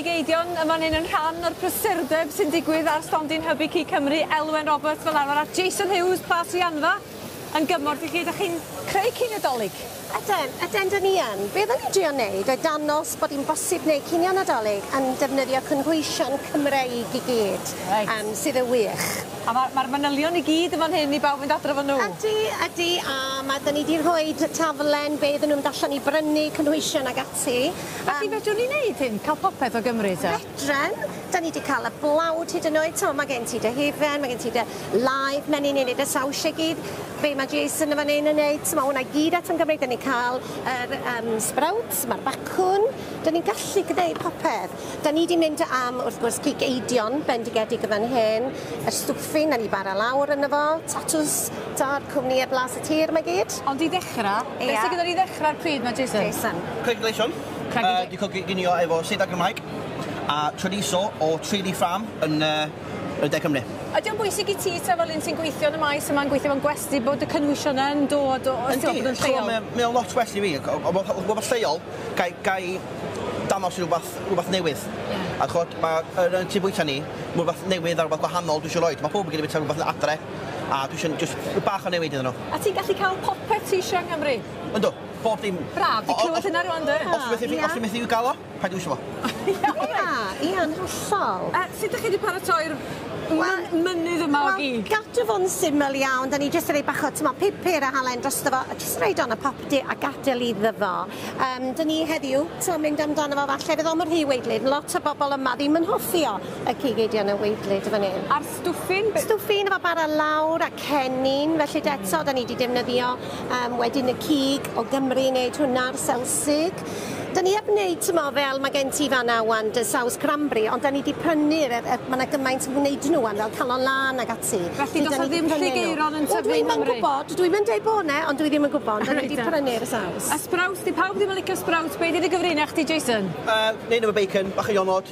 Geidion yn fan hyn yn rhan o'r prysurdeb sy'n digwydd ar stondin Hybu Cig Cymru, Elwen Roberts fel arfer, a Jason Hughes, Plas Rhianfa, yn gymorth i chi. Ydych chi'n creu cyn Nadolig? Yden, yden, dan ni yn. Be oedden ni'n drio wneud oedd dangos bod hi'n bosib gwneud cinio Nadolig yn defnyddio cynhwysion Cymreig i gyd, yym, sydd yn wych. A ma' ma'r manylion i gyd yn fan hyn i bawb fynd adref â nhw? Ydi, ydi, a ma'... 'dan ni 'di rhoi taflen be iddyn nhw mynd allan i brynu, cynhwysion ac ati, yym... Felly fedrwn ni wneud hyn, cael popeth o Gymru te? Dren, da ni di cael y blawd hyd yn oed, t'mo' ma' gen ti dy hufen, ma' gen ti dy laeth menyn ni'n neud y sawsiau gyd, be' ma' Jason yn fan 'yn yn neud, t'mo' hwnna i gyd eto'n Gymreig, da ni'n cael yr yym sbrowts, ma'r bacwn, da ni'n gallu gneud popeth. Da ni di mynd am wrth gwrs cig eidion bendigedig yn fan hyn, y stwffing da ni bara lawr yno fo, tatws, t'od cwmnïe blas y tir ma' gyd. Ond i ddechra, be' sy gyda ni i ddechra, pryd ma' Jason? Jason. Craig Gleishon. Yy di coginio efo seidar Cymraeg a trydeiso o Tralee Farm yn yy yn De Cymru. Ydy o'n bwysig i ti ta fel un sy'n gweithio yn y maes yma'n gweithio mewn gwesty bod y cynwysion yn dod o os ti'n meddwl bod o'n lleol? Yndi, mae o'n lot well i fi, rhywbeth lleol, gai gai danos i rhywbeth rhywbeth newydd. Ie. A ch'od ma' yn yn tŷ bwyta ni, ma' rwbath newydd a rwbath gwahanol dwi isio roid, ma' powb yn gallu bwyta rwbath adre a dwi isio jyst rhyw bach o newid iddyn nhw. A ti'n gallu cael popeth ti isio yng Nghymru? Yndw, bob dim. Braf, fi clywed hynna rwan 'de. Os ti methu os ti methu ga'l o, paid iwsio fo. Ia, ia yn hollol. A sut 'dych chi 'di paratoi'r myn- mynydd yma o gig? Wel, gadw fo'n syml iawn, 'dan ni jyst yn roi bach o t'mo' pupur a halen drosto fo a jyst roid o yn y popty a gadel iddo fo. Yym 'dyn ni heddiw t'mo' mynd amdano fo falle fydd o'm yn rhy weidly, lot o bobol yma ddim yn hoffi o, y cig eidion yn weidly dw fan 'yn. A'r stwffyn be-? Stwffyn efo bara lawr a cennin felly 'de eto 'dan ni 'di defnyddio Um, wedyn y cig o Gymru yn neud hwnna'r selsig. Dyna ni heb wneud, ti'n mo, fel mae gen ti fan awan, dy saws cranberry, ond dyna ni wedi prynu'r, er, er, mae yna gymaint yn gwneud nhw am fel calon lan ag ati. Felly does ddim llig eiron yn tyfu yn Cymru? Dwi'n gwybod, dwi'n mynd ei bod ne, ond dwi ddim yn gwybod, dyna ni wedi prynu'r saws. A sprouts, di pawb ddim yn licio sprouts, beth ydi gyfrinach di, Jason? Uh, neu nhw bacon, bach o ionod.